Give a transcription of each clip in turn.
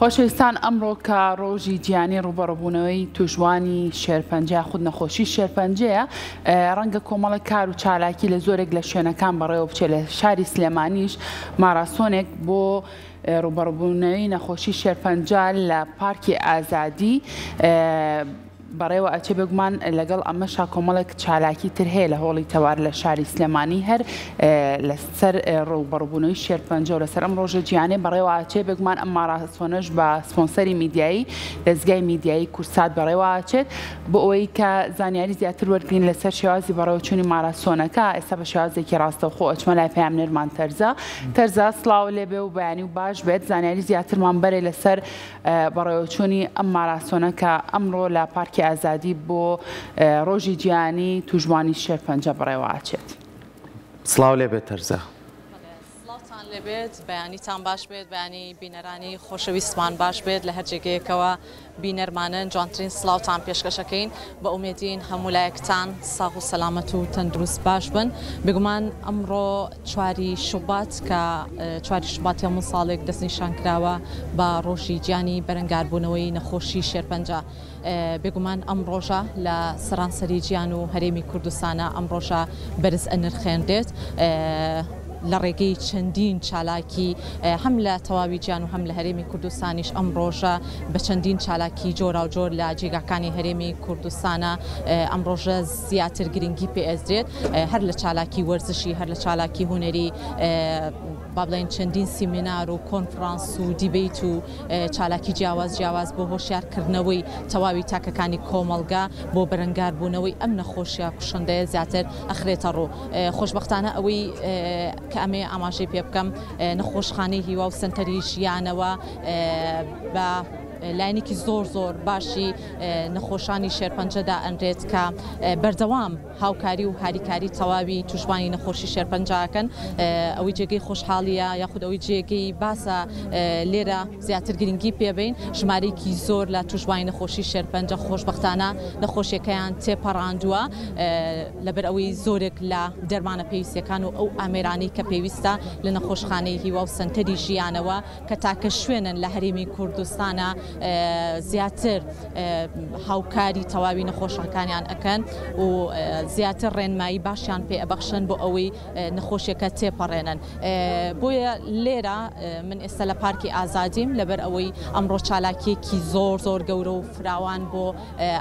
خۆشەویستان ئەمڕۆ کە ڕۆژی جیانی ڕوبەڕبوونەوەی توشبوانی شێرپەنجە خود نەخۆشی شێرپەنجەیە ڕەنگە کۆمەڵی کار و چالاکی لە زۆرێک لە شوێنەکان بەڕێوە بچێت لە شاری سلێمانیش ماراسۆنێک بۆ ڕوبەڕبوونەوەی نەخۆشی شێرپەنجە لە پارکی ئازادی بەڕێوە ئەچێ، بێگومان لەگەڵ ئەمەشا کۆمەڵێک چالاکی تر هەیە لە هۆڵی تەوار لە شاری سلێمانی هەر لەسەر ڕووبەڕبوونەوەی شێرپەنجە و لەسەر ئەم ڕۆژە جیانێ بەڕێواچێ بێگومان ئەم ماڕاستۆنەش بە سپۆنسەری میدیایی دەستگای میدیایی کورسات بەڕێواچێت بۆ ئەوەی کە زانیاری زیاتر وەرگین لەسەر شێوازی بەڕێوچوونی ماراستۆنەکە ئێستا بە شێوازێکی ڕاستەوخۆ ئەچمە لای پامنێرمان تەرزە تەرزا سلااو لێبێ و بەیانی و باش بێت زانیاری زیاترمان بەرێ لەسەر بەڕێوەچوونی ئەم ماراسۆنە کە ئەمڕۆ لە پارکی ئازادی بۆ ڕۆژی جیهانی تووشبووانی شێرپەنجە بەڕێوەچێت. سڵاو لێ بێت تەرزا. سڵاوتان لێ بێت بەیانیتان باش بێت بەیانی بینەرانی خۆشەویستمان باش بێت لە هەر جێگەیەکەوە بینەرمانن جوانترین سڵاوتان پێشکەشەکەین بە ئومێدین هەموو لایەکتان ساغ و سەلامەت و تەندروست باش بن بێگومان ئەمڕۆ چواری شوبات کە چواری شوباتی هەموو ساڵێک دەستنیشانکراوە بە ڕۆژی جیانی بەرەنگاربوونەوەی نەخۆشی شێرپەنجە بێگومان ئەم ڕۆژە لە سەرانسەری جیان و هەرێمی کوردستانە ئەم ڕۆژە بەرز ئەنرخێنرێت لە ڕێگەی چەندین چالاکی هەم لە تەواوی جیان و هەم لە هەرێمی کوردستانیش ئەم ڕۆژە بە چەندین چالاکی جۆرا و جۆر لە جێگاکانی هەرێمی کوردستانە ئەم ڕۆژە زیاتر گرنگی پێ ئەدرێت هەر لە چالاکی وەرزشی هەر لە چالاکی هونەری با بڵێن چەندین سیمینار و کۆنفرانس و دیبیت و چالاکی جیاواز جیاواز بۆ هۆشیارکردنەوەی تەواوی تاکەکانی کۆمەڵگا بۆ بەرەنگاربوونەوەی ئەم نەخۆشیە کوشندەیە زیاتر ئەخرێتە ڕوو خۆشببختانە ئەوەی کە ئەمێ ئاماژەی پێ بکەم نەخۆشخانەی هیوا و سنتەری ژیانەوە بە لایەنێکی زۆر زۆر باشی نەخۆشانی شێرپەنجە دائەنرێت کە بەردەوام هاوکاری و هاریکاری تەواوی توشبانی نەخۆشی شێرپەنجەکەن ئەوەی جێگەی خۆشحاڵیە یاخود ئەوەی جێگەی باسە لێرە زیاتر گرنگی پێبین ژمارەیەکی زۆر لە توشبانی نەخۆشی شێرپەنجە خۆشببختانە نەخۆشیەکەیان تێپەڕاندووە لەبەر ئەوەی زۆرێک لە دەرمانە پێویستەکان و ئەو ئامێرانی کە پێویستە لە نەخۆشخانەی هیوا و سنتەری ژیانەوە کە تاکە شوێنن لە هەرێمی کوردستانا زیاتر هاوکاری تەواوی نەخۆشەکانیان ئەکەن و زیاتر ڕێنمایی باشیان پێ ئەبەخشن بۆ ئەوەی نەخۆشیەکە تێپەڕێنن بۆیە لێرە من ئێستا لە پارکی ئازادیم لەبەر ئەوەی ئەمڕۆ چالاکیەکی زۆر زۆر گەورە و فراوان بۆ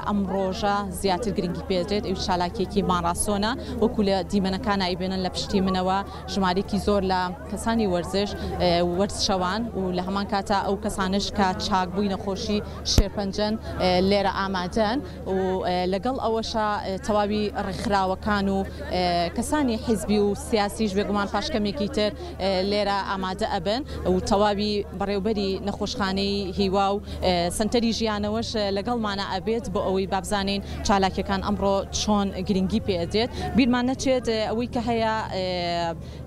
ئەم ڕۆژە زیاتر گرنگی پێدرێت ئەو چالاکیەکی ماڕاسۆنە وەکو لە دیمەنەکان ئایبێنن لە پشتی منەوە ژمارەیەکی زۆر لە کەسانی وەرزش وەرزشەوان و لە هەمان کاتا ئەو کەسانەش کە چاک بووی نەخۆشی شێرپەنجەن لێرە ئامادەن و لەگەڵ ئەوەشە تەواوی ڕێکخراوەکان و کەسانی حیزبی و سیاسیش بێگومان پاش کەمێکی تر لێرە ئامادە ئەبن و تەواوی بەڕێوبەری نەخۆشخانەی هیوا و سەنتەری ژیانەوەش لەگەڵمانە ئەبێت بۆ ئەوەی بابزانین چالاکیەکان ئەمڕۆ چۆن گرنگی پێ ئەدرێت بیرمان نەچێت ئەوەی کە هەیە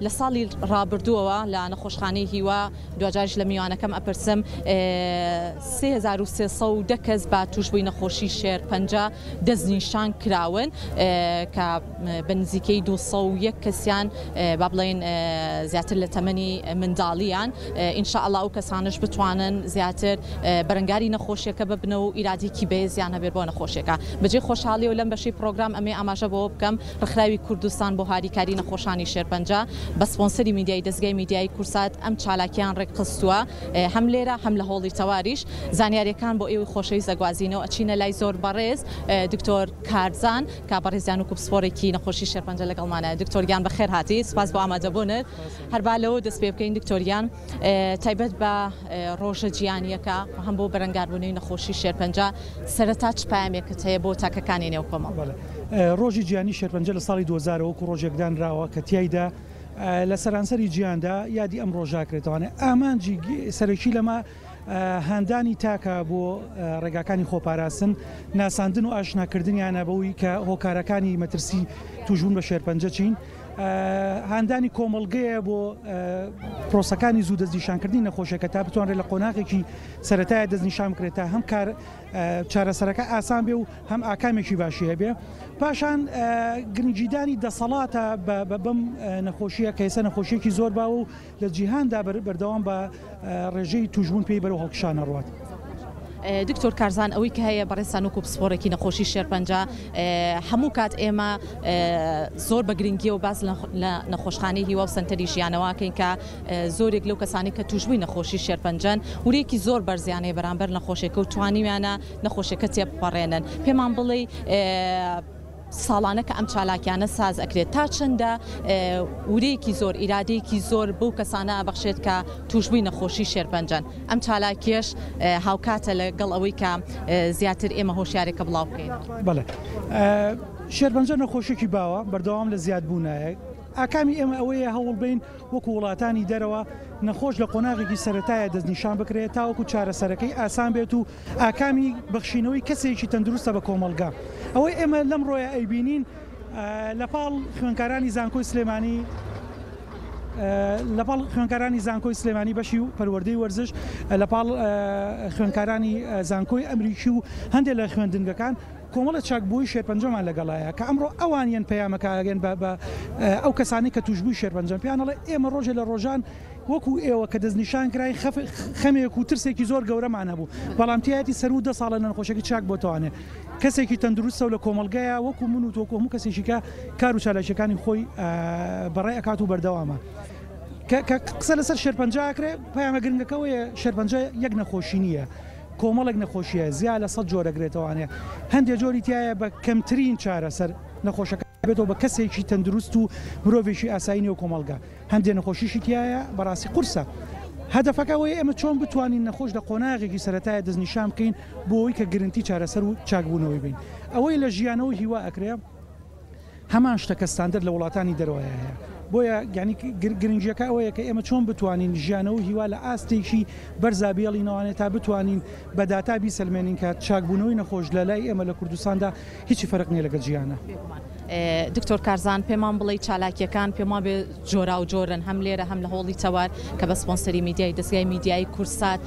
لە ساڵی ڕابردووەوە لە نەخۆشخانەی هیوا دواجاریش لە میوانەکەم ئەپرسم 3310 کەس با توشبووی نەخۆشی شێر پەنجە دەستنیشان کراون کە بە نزیکەی دوو سەد و یەک کەسیان با بڵێین زیاتر لە تەمەنی منداڵییان، ان شاء اللە ئەو کەسانەش بتوانن زیاتر بەرەنگاری نەخۆشیەکە ببنەوە و ئیرادەیەکی بەێزیان هەبێت بۆ نەخۆشیەکە. بەجێی خۆشحاڵیەوە لەم بەشەی پڕۆگرام ئەمەی ئاماژە بەوە بکەم ڕێکخراوی کوردستان بۆ هاریکاری نەخۆشانی شێرپەنجە بە سپۆنسەری میدیای دەزگای میدیایی کورسات ئەم چالاکیەیان ڕێکخستووە هەم لێرە هەم لە هۆڵی تەواریش زانیاریەکان بۆ ئێوەی خۆشەویست ئەگوازینەوە ئەچینە لای زۆر بەڕێز دکتۆر کارزان کاک بەڕیز جان وەکو پسپۆرێکی نەخۆشی شێرپەنجە لەگەڵمانە دکتۆر گیان بەخێر هاتی سپاس بۆ ئامادەبونت هەر با لەوە دەست پێ بکەین دکتۆر گیان تایبەت بە ڕۆژە جیانیەکە هەم بۆ بەرەنگاربونەوەی نەخۆشی شێرپەنجە سەرەتا چ پایەمێکت هەیە بۆ تاکەکانی نێو کۆمەڵگە؟ ڕۆژی جیانی شێرپەنجە لە ساڵی دوەزارەوە وەکو ڕۆژێک دانراوە کە تیایدا لە سەرانسەری جیاندا یادی ئەم ڕۆژە ئەکرێتەوە ئامانجی سەرەکی لەمە هاندانی تاکە بۆ ڕێگاکانی خۆپاراستن، ناساندن و ئاشناکردنیانە بەوەی کە هۆکارەکانی مەترسی تووشبوون بە شێرپەنجە چین، هاندانی کۆمەڵگەیە بۆ پرۆسەکانی زوو دەستنیشانکردنی نەخۆشیەکە تا بتوانرێت لە قۆناغێکی سەتای دەستنیشان بکرێت تا هەم کار چارەسەرەکە ئاسان بێ و هەم ئاکامێکی باشی هەبێ پاشان گرنجیدانی دەسەڵاتە بەم نەخۆشیە کەیسە نەخۆشیێکی زۆر باوە و لە جیهاندا بەردەوام بە ڕێژەی تووشبوون پێی بەرەو هەڵکشان ئەڕوات. دکتۆر کارزان ئەوەی کە هەیە بەڕێزتان وەکو پسپۆڕێکی نەخۆشی شێرپەنجە هەموو کات ئێمە زۆر بە گرنگیەوە باس لە نەخۆشخانەی هیوا و سەنتەری ژیانەوەکەین کە زۆرێک لەو کەسانی کە توشبووی نەخۆشی شێرپەنجەن ورێکی زۆر بەرزیانەیە بەرامبەر نەخۆشێکە و توانیویانە نەخۆشەکە تێپەڕێنن پێمان بڵێ ساڵانە کە ئەم چالاکیانە ساز ئەکرێت تا چەندە ورەیەکی زۆر ئیرادەیەکی زۆر بەو کەسانە ئەبەخشێت کە تووشبووی نەخۆشی شێرپەنجەن ئەم چالاکیەش هاوکاتە لە گەڵ ئەوەی کە زیاتر ئێمە هۆشیارێکە بڵاو بکەین. بەڵێ شێرپەنجە نەخۆشێکی باوە بەردەوام لە زیاد بوونایە. ئاکامی ئێمە ئەوەیە هەوڵ بەین وەکو وڵاتانی دەرەوە نەخۆش لە قۆناغێکی سەرەتایە دەستنیشان بکرێت تاوەکو چارەسەرەکەی ئاسان بێت و ئاکامی بەخشینەوەی کەسێکی تەندروستە بە کۆمەڵگا. ئەوەی ئێمە لەمڕۆیە ئەیبینین لەپاڵ خوێندکارانی زانکۆی سلێمانی لەپاڵ خوێندکارانی زانکۆی سلێمانی بەشی و پەروەردەی وەرزش لەپاڵ خوێندکارانی زانکۆی ئەمریکی و هەندێک لە خوێندنگەکان کۆمەڵە چاک بۆی شێرپەنجەمان لەگەڵایە کە ئەمڕۆ ئەوان یەن پەیامەکەگەن بە ئەو کەسانی کە توشببووی شێرپەنجەم پیانەڵێ ئێمە ڕۆژێ لە ڕۆژان وەکو ئێوە کە دەستنیشانکراین خەمێک و ترسێکی زۆر گەورەمان هەبوو، بەڵام تیایەتی سەروو دە ساڵە لەنەخۆشیەکەی چاک بۆتەوانێ کەسێکی تەندروستە و لە کۆمەڵگەیە وەکو من و تۆ وەکو هەموو کەسێکیکە کار و چالاکیەکانی خۆی بەڕێ ئەکات و بەردەوامە. کە کە قسە لەسەر شێرپەنجە ئەکرێ پەیامە گرنگەکە ئەوەیە شێرپەنجە یەک نەخۆشی نییە کۆمەڵێک نەخۆشیە زیا لە سەد جۆر ئەگرێتەوانێ هەندێ جۆری تیایە بە کەمترین چارەسەر نەخۆشەکە بێتەوە بە کەسێکی تەندروست و مرۆڤێکی ئاسایی نێو کۆمەڵگە هەندێ نەخۆشیشی تایە بەڕاستی قورسە هەدەفەکە وەیە ئێمە چۆن بتوانین نەخۆش لە قۆناغێکی سەتایە دەستنیشان بکەین بۆەوەی کە گرنتی چارەسەر و چاکبوونەوەی بین ئەوەی لە ژیانەوە هیوا ئەکرێ هەمان شتەکە ستاندەر لە وڵاتانی دەرەوەە هەیە بۆیە گەنی گرنگیەکە ئەوەیە کە ئێمە چۆن بتوانین ژیانەوە هیوا لە ئاستێکی بەرزابیێڵینەوانێت تا بتوانین بە داتا بیسەلمێنین کە چاکبوونەوەی نەخۆش لە لای ئێمە لە کوردستاندا هیچی فەرق نیە لەگەل جیانە. دکتۆر کارزان پێمان بڵێ چالاکیەکان پێم وابێ جۆراو جۆرن هەم لێرە هەم لە هۆڵی تەوار کە بە سپۆنسەری میدیای دەستگای میدیایی کورسات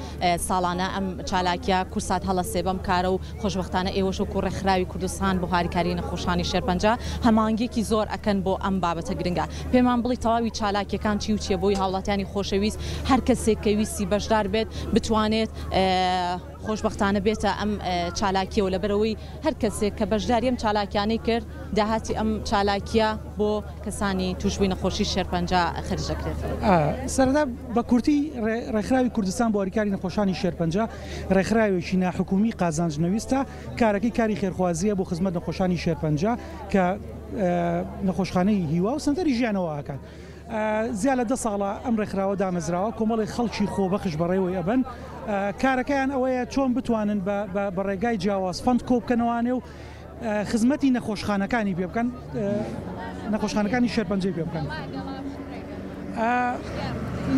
ساڵانە ئەم چالاکیا کورسات هەڵە سێبەم کارە و خۆشببختانە ئێوەش و کوڕێ خراوی کوردستان بۆ هاریکاری نەخۆشانی شێرپەنجە هەمانگێکی زۆر ئەکەن بۆ ئەم بابەتە گرنگە پێمان بڵی تەواوی چالاکیەکان چی و چیە بۆی هاوڵاتیانی خۆشەویست هەر کەسێک کە ویستی بەشدار بێت بتوانێت خۆشبەختانە بێتە ئەم چالاکیەوە لەبەرئەوەی هەر کەسێک کە بەشداری ئەم چالاکیانەی کرد داهاتی ئەم چالاکیە بۆ کەسانی توشبوی نەخۆشی شێرپەنجە خەرج دەکرێتەوە. سەرەتا بە کورتی ڕێکخراوی کوردستان بۆ هەریکاری نەخۆشانی شێرپەنجە ڕێکخراوێکی ناحکومی قازانج نەویستە کارەکەی کاری خێرخوازیە بۆ خزمەت نەخۆشانی شێرپەنجە کە نەخۆشخانەی هیوا و سەنتەری ژیانەوە ئەکات. زیا لە دە ساڵە ئەم ڕێکخراوە دامەزراوە، کۆمەڵێک خەڵکی خۆبەخش بەڕێوەی ئەبەن، کارەکەیان ئەوەیە چۆن بتوانن بە ڕێگای جیاواز فەند کۆبکەنەوانێ و خزمەتی نەخۆشخانەکانی پێ بکەن، نەخۆشخانەکانی شێرپەنجەی پێ بکەن.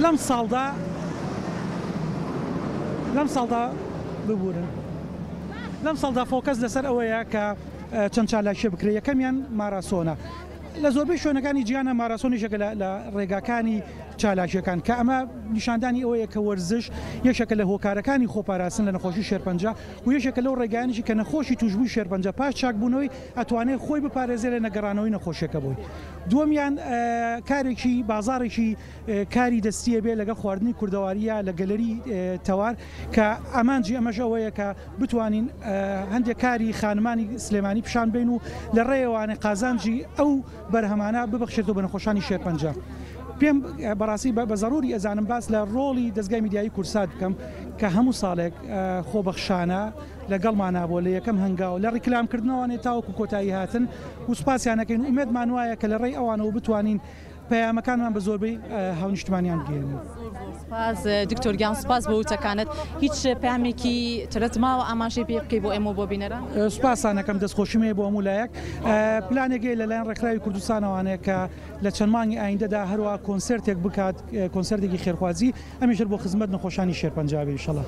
لەم ساڵدا لەم ساڵدا ببورن لەم ساڵدا فۆکەس لەسەر ئەوەیە کە چەند چالاکیە بکرێ یەکەمیان ماراسۆنە. لە زۆربەی شوێنەکانی جیهاندا ماراسۆن یەکێکە لە ڕێگاکانی چالاکییەکان، کە ئەمە نیشاندانی ئەوەیە کە وەرزش یەکێکە لە هۆکارەکانی خۆپاراستن لە نەخۆشی شێرپەنجە و یەکێکە لەو ڕێگایانیشی کە نەخۆشی تووشبووی شێرپەنجە پاش چاکبوونەوەی ئەتوانێت خۆی بپارێزێت لە نەگەڕانەوەی نەخۆشییەکە بۆی. دووەمیان کارێکی بازاڕێکی کاری دەستیە بێ لەگەڵ خواردنی کوردەواری یا لە گەلەری تەوار کە ئامانجی ئەمەش ئەوەیە کە بتوانین هەندێک کاری خانمانی سلێمانی پیشان بین و لە ڕێوانێ قازانجی ئەو بەرهەمانە ببەخشێتەوە بە نەخۆشانی شێرپەنجە پێم بەڕاستی بە بەزەڕوری ئەزانم باس لە ڕۆڵی دەزگای میدیایی کورسات بکەم کە هەموو ساڵێک خۆبەخشانە لەگەڵمانە بۆ لە یەکەم هەنگاو لە ڕیکلام کردنەوەێ تاوەکو کۆتایی هاتن و سوپاسیانەکەین ئومێدمان وایە کە لە ڕێی ئەوانەوە بتوانین پەیامەکانمان بە زۆربەی هاونیشتمانیان بگەیەنین. زۆر سوپاس دکتۆر گیان سوپاس بۆ وتەکانت هیچ پامێکی ترت ماوە ئاماژەی پێ بکەی بۆ ئێمە بۆ بینەران سوپاسانەکەم دەستخۆشیم هەیە بۆ هەموو لایەک پلانێکەیە لەلایەن ڕێکخراوی کوردستانەوانەیە کە لە چەند مانگی ئایندەدا هەروە کۆنسرتێک بکات کۆنسرتێکی خێرخوازی. ئەمیشر بۆ خزمەت نەخۆشانی شێرپەنجە بێ ئیشەڵا.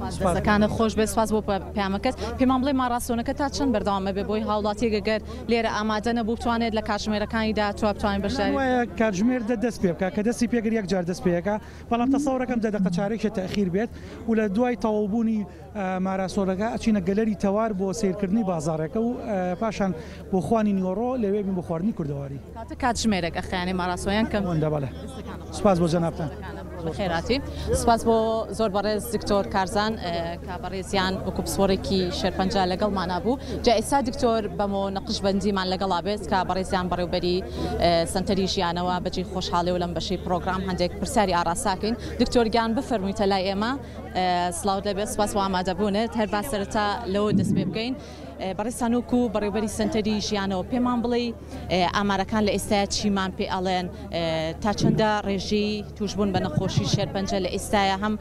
دەستەکانت خۆشبێت سپاس بۆ پەیامەکەت پێمان بڵێ ماڕاستۆنەکە تا چەند بەردەوام ئەبێت بۆی هاوڵاتیەک گەر لێرە ئامادە نەبوو بتوانێت لە کاتژمێرەکانی داهاتووە بتوانین بەشداری بکات؟ وایە کاتژمێر دە دەست پێ بکات کە دەستی پێکرد یەکجار دەست پێ ئەکات بەڵام تەسەوڕ ئەکەم دە دەقە چارەکیشە تەئخیر بێت و لە دوای تەواوبوونی ماراسۆلەکە ئەچینە گەلەری تەوار بۆ سەیرکردنی بازاڕێکە و پاشان بۆ خوانی نیوەڕۆ لەوێ بین بۆ خواردنی کوردەواری. کاتە کاتژمێرێک ئەخەیانێ ماراسۆ یان کەم؟ ئەوەندە بەڵێ. سوپاس بۆ جەنابتان. بەخێرهاتی. سوپاس بۆ زۆر بەڕێز دکتۆر کارزان کە بەڕێزیان وەکو پسپۆڕێکی شێرپەنجە لەگەڵمانا بوو. جا ئێستا دکتۆر بەمۆ نەقشبەندیمان لەگەڵا بێت کە بەڕێزیان بەڕێوبەری سەنتەری ژیانەوە بەجێی خۆشحاڵێ و لەم بەشەی پرۆگرام هەندێک پرسیاری ئاڕاستاکەین. دکتۆر گیان بفەرموویتە لای ئێمە. سڵاوت لێ بێت سوپاس بۆ ئامادەبوونت هەر با سەرەتا لەوە دەست پێ بکەین بەڕێزتان وەکو بەڕێوبەری سەنتەری ژیانەوە پێمان بڵێ ئامارەکان لە ئێستا چیمان پێ ئەڵێن تا چەندە ڕێژەی توشبوون بە نەخۆشی شێرپەنجە لە ئێستاە هەم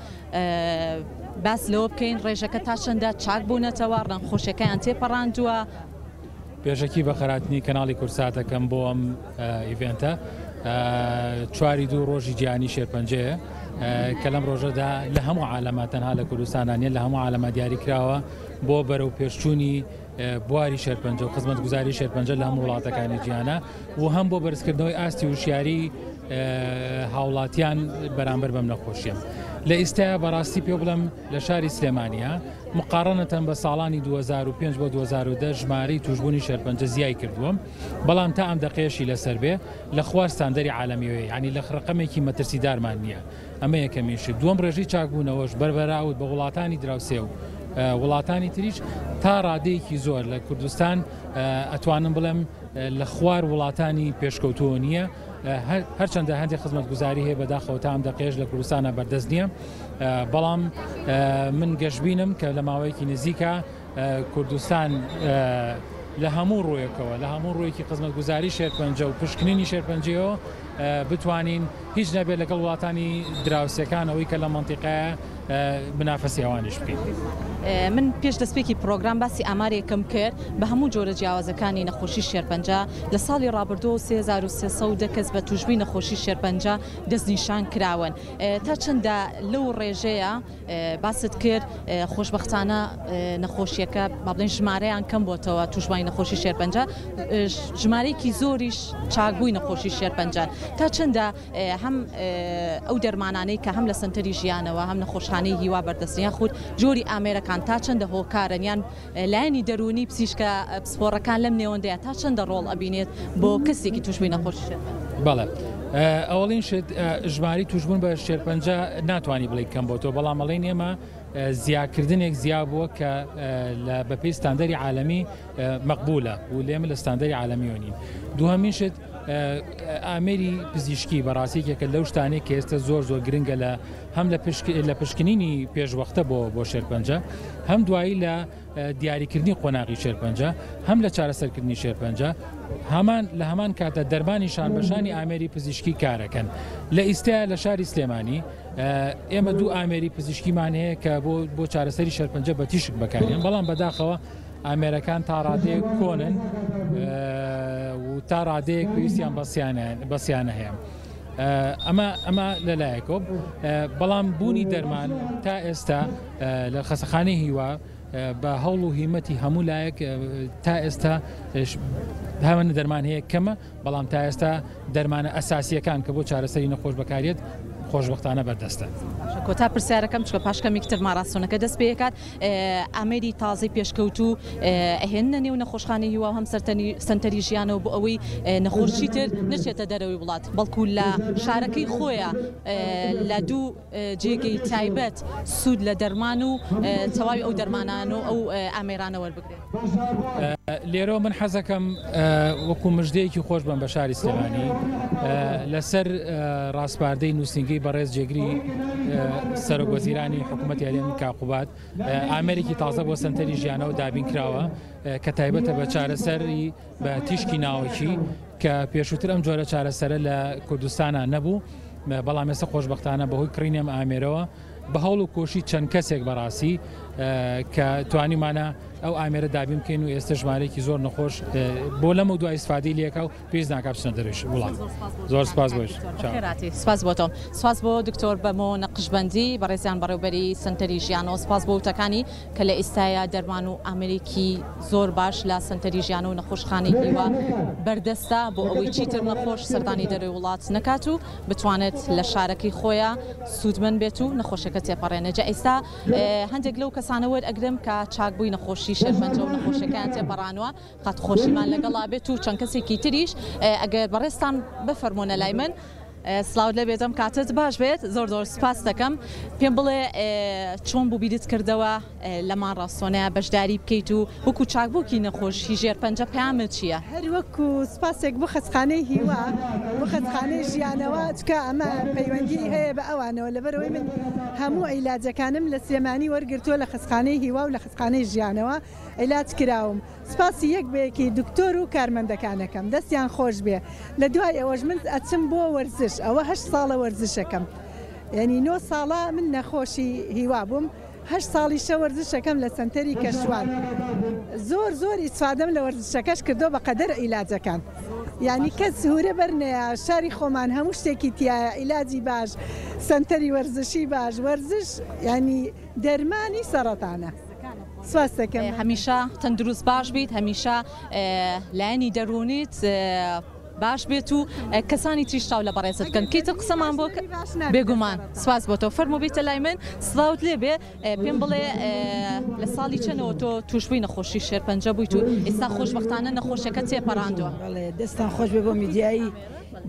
باس لەوە بکەین ڕێژەکە تا چەندە چاک بوونەتەوە ڕەنخۆشەکەیان تێپەڕاندووە پێشەکی بە خەراتنی کەناڵی کوردسات ئەکەم بۆ ئەم ئیڤێنتە چواری دوو ڕۆژی جیانی شێرپەنجەیە کە لەم ڕۆژەدا لە هەموو عالەمە تەنها لە کوردستانانە لە هەموو عالەمە دیاری کراوە بۆ بەرەو پێشچوونی بواری شێرپەنجە و خزمەت گوزاری شێرپەنجە لە هەموو وڵاتەکانی جیانە و هەم بۆ بەرزکردنەوەی ئاستی وشیاری هاوڵاتیان بەرامبەر بەم نەخۆشیە لە ئیستا بەڕاستی پێ بڵم لە شاری سلێمانییە مقاڕەنەتەن بە ساڵانی دوو هەزار و پێنج بۆ دوو هەزار و دە ژمارەی تووشبوونی شێرپەنجە زیای کردووە، بەڵام تا ئەم دەقەیەشی لەسەر بێ لە خوار ستاندەری عالەمیەوەیە یانی لخ رەقەمێکی مەترسیدارمان نییە ئەمە یەکەمین شت دووەم رێژەی چاکبوونەوەش بەر بەراورد بە وڵاتانی دراوسێ و وڵاتانی تریش تا رادەیەکی زۆر لە کوردستان ئەتوانم بڵێم لە خوار وڵاتانی پێشکەوتووە نییە. هەرچەندە هەندێک خزمەتگوزاری هەیە بەداخەوە تا ئەم دەقێش لە کوردستانە بەردەست نییە بەڵام من گەشببینم کە لە ماوەیەکی نزیکە کوردستان لە هەموو ڕوویەکەوە لە هەموو ڕوویەکی خزمەت گوزاری شێرپەنجە و پشکنینی شێرپەنجەوە بتوانین هیچ نەبێت لەگەڵ وڵاتانی دراوسەکانەوەی کە لە منتیقایە منافەسی ئەوانیش بکەین. من پێش دەستپێکی پڕۆگرام باسی ئامارێکم کرد بە هەموو جۆرە جیاوازەکانی نەخۆشی شێرپەنجە لە ساڵی ڕابردوو 3310 کەس بە تووشبووی نەخۆشی شێرپەنجە دەستنیشان کراون تا چەندە لەو ڕێژەیە باست کرد خۆشببختانە نەخۆشیەکە با بڵێن ژمارەیان کەم بۆتەوە تووشبووی نەخۆشی شێرپەنجە ژمارەیەکی زۆریش چاکبووی نەخۆشی شێرپەنجە تا چەندە هەم ئەو دەرمانانەی کە هەم لە سەنتەری ژیانەوە هەم نەخۆشخانەی هیوا بەردەستن یاخود جۆری ئامێرەکان تا چەندە هۆکارن یان لایەنی دەروونی پزیشکە پسپۆڕەکان لەم نێوەندەیە تا چەندە ڕۆڵ ئەبینێت بۆ کەسێکی تووشبووی نەخۆشی شێرپەنجە؟ بەڵێ. ئەوەڵین شت ژماری توشبوون بە شێرپەنجە ناتوانانی بڵی کەم بۆ تۆ بەڵام ئەڵین ئێمە زیاکردنێک زیا بووە کە بەپی ستاندەری عاالمی مەقبولە و لێمە لە ستاندەری عاالمیۆنین دوهمین شت ئامێری پزیشکی بەڕاستی یەکێکە لەو شتانەی کە ئێستا زۆر زۆر گرنگە لە هەم لە لە پشکنینی پێشوەختە بۆ بۆ شێرپەنجە هەم دوایی لە دیاریکردنی قۆناغی شێرپەنجە هەم لە چارەسەرکردنی شێرپەنجە هەمان لە هەمان کاتە دەرمانی شانبەشانی ئامێری پزیشکی کارەکەن لە ئیستا لە شاری سلێمانی ئێمە دوو ئامێری پزیشکیمان هەیە کە بۆ بۆ چارەسەری شەرپەنجە بە تیشک بەکارێن بەڵام بەداخەوە ئامێرەکان تا ڕادەیەک کۆنن و تا ڕادەیەک پێویستیان بە سیانە هەیە. ئەمە ئەمە لەلایەکۆ بەڵام بوونی دەرمان تا ئێستا لە خەسەخانی هیوا بە هەوڵ و هیمەتی هەموو لایەک تا ئێستا هەمە دەرمان هەیە کەمە بەڵام تا ئێستا دەرمانە ئەساسییەکان کە بۆ چارەسەری نەخۆش بەکاریێت خۆشبەختانە بەردەستە. کۆتا پرسیارەکەم چکە پاش کەمێکی تر ماراستۆنەکە دەست پێکات ئامێری تازەی پێشکەوتو ئەهێنە نێو نەخۆشخانەی هیوا هەم سەرنی سنتەری ژیانەوە بۆ ئەوەی نەخۆشی تر نچێتە دەرەوەی وڵات بەڵکو لە شارەکەی خۆیان لە دوو جێگەی تایبەت سوود لە دەرمان و تەواوی ئەو دەرمانان و ئەو ئامێرانە وەربگرێت. لێرەوە من حەزەکەم وەکو مژدەیەکی خۆش بەم بە شاری سلێمانی لەسەر ڕاسپاردەی نووسینگەی بەڕێز جێگری سەرۆک وەزیرانی حکوومەتی هەرێمی کاقوباد ئامێرێکی تازە بۆ سەنتەری ژیانەوە دابین کراوە کە تایبەتە بە چارەسەری بە تیشکی ناوەکی کە پێشووتر ئەم جۆرە چارەسەرە لە کوردستانە نەبوو بەڵام ئێستا خۆشببختانە بەهۆی کڕینێم ئامێرەوە بە هەوڵ و کۆشی چەند کەسێک بەڕاستی کە توانیمانە ئەو ئامێرە دابین بکەین و ئێستا ژمارێکی زۆر نەخۆش بۆ لەمە دو ئیسفادی لەکە و پێز ناکە بچنە دەرویش وڵات زۆر سپاس بۆش سپاس بۆ تۆ سپاس بۆ دکتۆر بەمۆ نەقشبندی بەڕێزیان بەڕێوبەری سنتەری ژیان و سپاس بۆ وتەکانی کە لە ئیستایا دەرمان و ئامێرێکی زۆر باش لە سەنتەری ژیانە و نەخۆشخانەی هیوا بەردەستە بۆ ئەوەی چیتر نەخۆش سەردانی دەرەوەی وڵات نەکات و بتوانێت لە شارەکەی خۆیا سوودمەند بێت و نەخۆشەکە تێپەڕێنێ جا ئیستا هەندێک لەو کەسانە وەرئەگرم کە چاک بووی نەخۆشی شێرپەنجە و نەخۆشەکەیان تێپەڕانوە قەت خۆشیمان لەگەڵا بێت و چەند کەسێکی تریش ئەگەر بەڕێزتان بفەرمۆنە لای من. سڵاوت لێ بێتم کاتت باش بێت زۆر زۆر سوپاست دەکەم پێم بڵێ چۆن بوو بیرت کردەوە لە ماڕاستۆنەیە بەشداری بکەیت و وەکو چاکبووکی نەخۆشی ژێر پەنجە پامت چییە؟ هەر وەکو سوپاسێک بۆ خەستخانەی هیوا و خەستخانەی ژیانەوە چکە ئەمە پەیوەندی هەیە بە ئەوانەوە لەبەرەوەی من هەموو ئیلاجەکانم لە سلێمانی وەرگرتووە لە خەستخانەی هیوا و لە خەستخانەی ژیانەوە ئیلاج کراوم. سپاسی یەک بە یەکی دکتۆر و کارمەندەکان ئەکەم دەستیان خۆشبێ لە دوای ئەوەش من ئەچم بۆ وەرزش ئەوە هەشت ساڵە وەرزشەکەم یەنی نۆ ساڵە من نەخۆشی هیوا بووم هەشت ساڵیشە وەرزشەکەم لە سەنتەری کەشوان زۆر زۆر ئیسفادەم لە وەرزشەکەش کردو بە قەدەر عیلاجەکان یعنی کەس سوورە بەرنەیە شاری خۆمان هەموو شتێکی تایە ئیلاجی باش سنتەری وەرزشی باش وەرزش ینی دەرمانی سەرەتانە. سپاست دەکەم. هەمیشە تەندروست باش بیت هەمیشە لایەنی دەروونیت باش بێت و کەسانی تریش چاو لە بەڕێزت بکەن کەی تر قسەمان بۆ کە- باش نابێت. بێگومان سپاس بۆ تۆ فەرموو بیتە لای من سڵاوت لێ بێ ئێ، پێم بڵێ ئێ، لە ساڵی چەنەوە تۆ تووشبووی نەخۆشی شێرپەنجە بوویت و ئێستا خۆشبەختانە نەخۆشیەکەت تێپەڕاندووە. بەڵێ دەستتان خۆش بێ بۆ میدیایی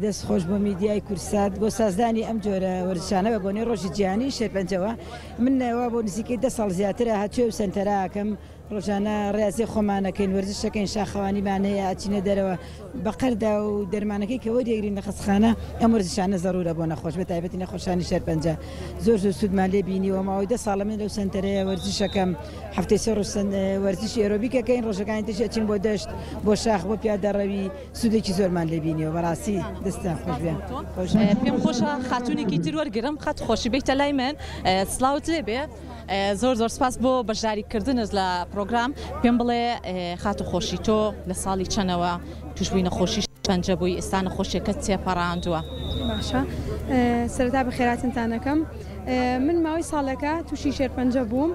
دەست خۆش بۆ میدیای کوردسات بۆ سازدانی ئەم جۆرە وەرزشانە بە بۆنەی ڕۆژی جیهانی شێرپەنجەوە. من وا بۆ نزیکەی دە ساڵ زیاترە هاتوویە و سەنتەرە ئەکەم ڕۆژانە ڕێاضی خۆمان ئەکەین وەرزش ئەکەین شاخەوانیمان هەیە ئەچینە دەرەوە بە قەردا و دەرمانەکەی کە وەریەگرین لە خەستخانە ئەم وەرزشانە زەرورە بۆ نەخۆش بە تایبەتی نەخۆشانی شێرپەنجە زۆر زۆر سوودمان لێ بینیوە ماوەی دە ساڵە من لەو سەنتەرەیە وەرزش ئەکەم هەفتەی سێ ڕۆژ وەرزشی ئێرۆبیک ئەکەین ڕۆژەکانی تریش ئەچین بۆ دەشت بۆ شاخ بۆ پیادەڕەوی سودێکی زۆرمان لێ بینیەوە بەڕاستی دەستان خۆش بێ پێم خۆشە خاتونێکی تر وەرگرم خەت خۆشی بیتە لای من سلااوت لێ بێ زۆر زۆر سپاس بۆ بەشداریکردنت لە پرۆگرام پێم بڵێ خات و خۆشی تۆ لە ساڵی چەنەوە توشببووی نەخۆشی پەنجە بووی ئستا نەخۆشیەکە تێپەڕاندووە باشە سەرتا بە خێراتنتانەکەم من ماوەی ساڵەکە تووشی شێرپەنجە بووم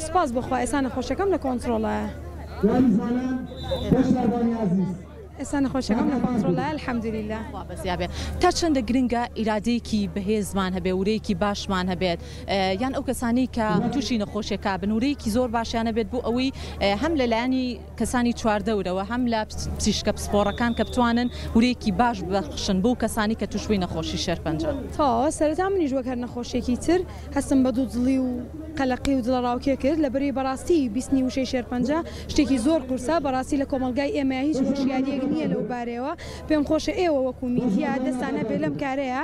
سوپاس بۆ خوا ئێسا نەخۆشەکەم لە کۆنتڕۆڵایە. ئێستا نەخۆشەکەم لە کۆنتڕۆڵایە الحمدللە. خوا بەزیا بێت. تا چەندە گرنگە ئیرادەیەکی بەهێزمان هەبێت، ورەیەکی باشمان هەبێت، یان ئەو کەسانەی کە تووشی نەخۆشیەکە بن ورەیەکی زۆر باشیان هەبێت بۆ ئەوەی هەم لە لایەنی کەسانی چواردەورەوە هەم لە پزیشکە پسپۆڕەکان کە بتوانن ورەیەکی باش ببەخشن بەو کەسانی کە تووشبووی نەخۆشی شێرپەنجەن. تەواوە، سەرەتا منیش وەک هەر نەخۆشیەکی تر هەستم بە دوودڵی و قەلەقی و دڵەڕاوکێ کرد لەبری بەڕاستی بیستنی وشەی شێرپەنجە شتێکی زۆر قورسە بەڕاستی لە کۆمەڵگای ئێمەیا هیچ هۆشیاریەک نیە لەوبارەیەوە پێمخۆشە ئێوە وەکو میدیا دەستان هەبێ لەم کارەیا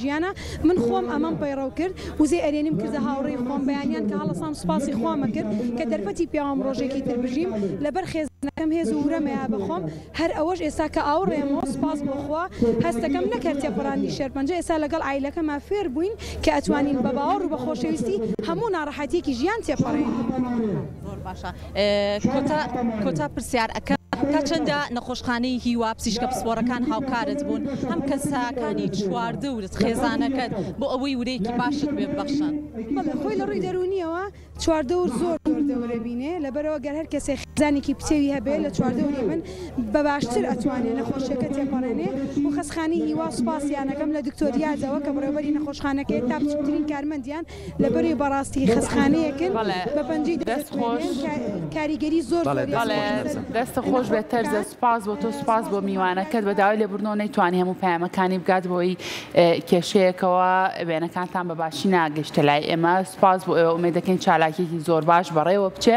ژیانە من خۆم ئەمەم پەیڕەو کرد وزەی ئەرێنیم کردە هاوڕێی خۆم بەیانیان کە هەڵەسام سوپاسی خوامە کرد کە دەرفەتی پیاوم ڕۆژێکی تر بژیم لەبەر خێزانەکەم هێز و ورەم ئەیا بەخۆم هەر ئەوەش ئێستا کە ئاوڕێمەوە سوپاس بۆ خوا هەست دەکەم نەک هەر تێپەڕاندی شێرپەنجە ئێستا لەگەڵ عایلەکەما فێر بووین کە ئەتوانین بە باوەڕ و بە خۆشەویستی هەموو ناڕەحەتیەکی ژیان تێپەڕێنین. کۆتا پرسیار ئەکەم تا چەندە نەخۆشخانەی هیوا پزیشکە پسپۆڕەکان هاوکارت بوون هەم کەسەکانی چواردەورت خێزانەکەت بۆ ئەوەی ورەیەکی باشت پێ ببەخشن؟ بەڵێ خۆی لە ڕووی دەروونییەوە چواردەور زۆر زۆر دەور دەبینێ لەبەرئەوە گەر هەر کەسێ خێزانێکی پتەوی هەبێ لە چواردەوری من بە باشتر ئەتوانێ نەخۆشیەکە تێپەڕێنێ و خەسخانەی هیوا سوپاسیان ئەکەم لە دکتۆر یادەوە کە بەڕێوەبەری نەخۆشخانەکەیە تا بچووکترین کارمەندیان لە بەرێ بەڕاستی خەسخانەیەکن بە پەنجەی دەست خۆش کاریگەری زۆر دەست خۆش بێت تەرزە سپاس بۆ تۆ سپاس بۆ میوانەکەت بە داوای لە بردنەوە نەیتوانانی هەموو پامەکانی بگات بۆی کێشەیەکەوە وێنەکانتان بە باشی ناگەشتە لای ئێمە سپاس بۆ ئێوە ئومێ دەکەین چالاکیێکی زۆر باش بەڕێوە بچێ